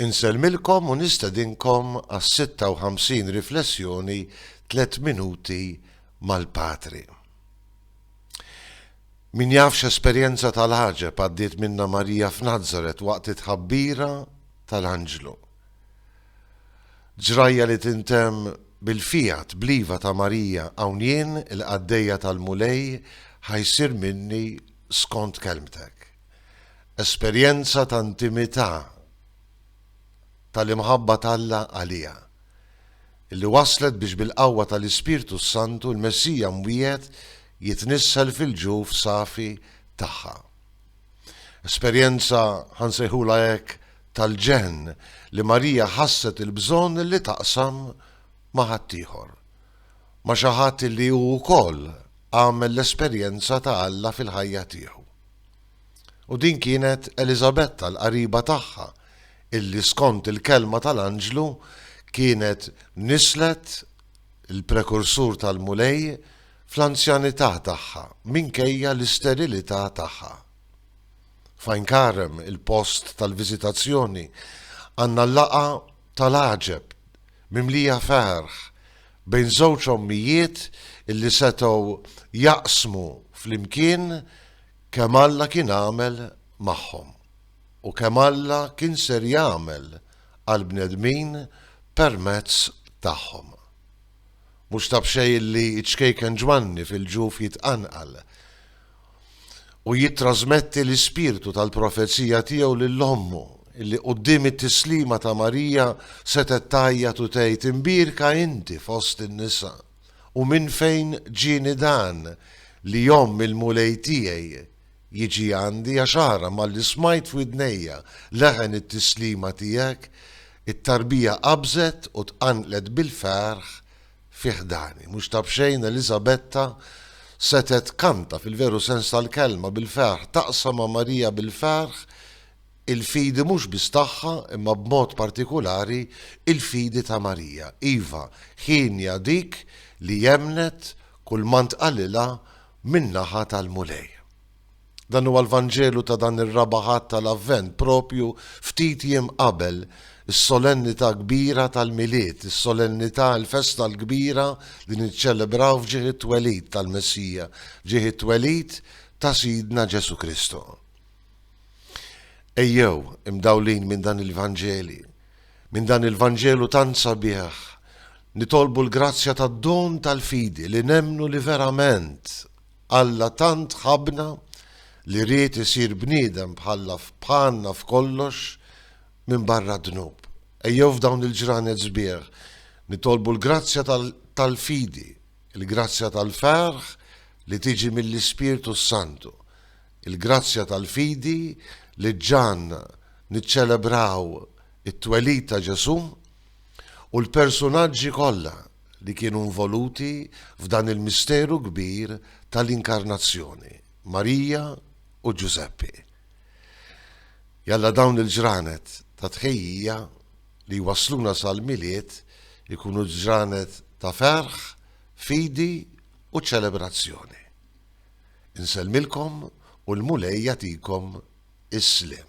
Insellmilkom u nistedinkom għas-56 riflessjoni Tliet Minuti mal-Patri. Min jaf x'esperjenza tal-għaġeb għaddiet minnha Marija f'Nazaret waqt it-tħabbira tal-anġlu. Ġrajja li tintemm bil-fiat bl-iva ta' Marija hawn jien il-qaddejja tal-Mulej ħajsir minni skont kelmtek. esperjenza ta' intimità tal-imħabba t'Alla għaliha, li wasslet biex bil-qawwa tal-Ispirtu s-Santu l-Messija mwiegħed jitnissel fil-ġuf safi tagħha. Esperjenza, ħa nsejħulha hekk, tal-ġenn li Marija ħasset il-bżonn li taqsam ma' ħaddieħor, ma' xi ħadd li hu wkoll għamel l-esperjenza ta' Alla fil-ħajja tiegħu. U din kienet Eliżabetta, l-qariba tagħha, illi skont il-kelma tal-anġlu kienet nisslet il-prekursur tal-Mulej fl-anzjanità tagħha minkejja l-isterilità tagħha. F'Għajn Karem, il-post tal-viżitazzjoni, għandna l-laqgħa tal-għaġeb mimlija ferħ bejn żewġ ommijiet illi setgħu jaqsmu flimkien kemm Alla kien għamel magħhom u kemm Alla kien ser jagħmel għall-bnedmin permezz tagħhom. Mhux ta' b'xejn illi ċ-ċkejken Ġwanni fil-ġuf jitqanqal. u jittrasmetti l-ispirtu tal-profezija tiegħu lil ommu, illi quddiem it-tislima ta' Marija setgħet tgħajjat u tgħid, Imbierka inti fost in-nisa, u minn fejn ġieni dan li omm il-Mulej tiegħi jiġi għandi, għax ara malli smajt f'widnejja leħen it-tislima tiegħek, it-tarbija qabżet u tqanqlet bil-ferħ fi ħdani. Mhux ta' b'xejn Eliżabetta setgħet tkanta fil-veru sens tal-kelma bil-ferħ, taqsam ma' Marija bil-ferħ il-fidi mhux biss tagħha imma b'mod partikulari il-fidi ta' Marija. Iva, hienja dik li emmnet kull ma ntqalilha min-naħa tal-Mulej. Dan huwa l-Vanġelu ta' dan ir-Raba' Ħadd tal-Avvent, proprju ftit jiem qabel is-solennità kbira tal-Milied, is-solennità, il-festa l-kbira li niċċelebraw f'ġieħ it-twelid tal-Messija, f'ġieħ it-twelid ta' Sidna Ġesù Kristu. Ejjew, imdawlin minn dan il-Vanġeli, minn dan il-Vanġelu tant sabiħ, nitolbu l-grazzja tad-don tal-fidi li nemmnu li verament Alla tant ħabbna li ried isir bniedem bħalla bħalna f'kollox minbarra d-dnub. Ejjew f'dawn il-ġranet sbieħ nitolbu l-grazzja tal-fidi, il-grazzja tal-ferħ li tiġi mill-Ispirtu s-Santu, il-grazzja tal-fidi li ġġagħalna niċċelebraw it-twelid ta' Ġesù u l-persunaġġi kollha li kienu involuti f'dan il-misteru kbir tal-Inkarnazzjoni, Marija u Ġużeppi. Jalla dawn il-ġranet ta' tħejjija li jwassluna sal-Milied ikunu ġranet ta' ferħ, fidi u ċelebrazzjoni. Insellmilkom u l-Mulej jagħtikom is-sliem.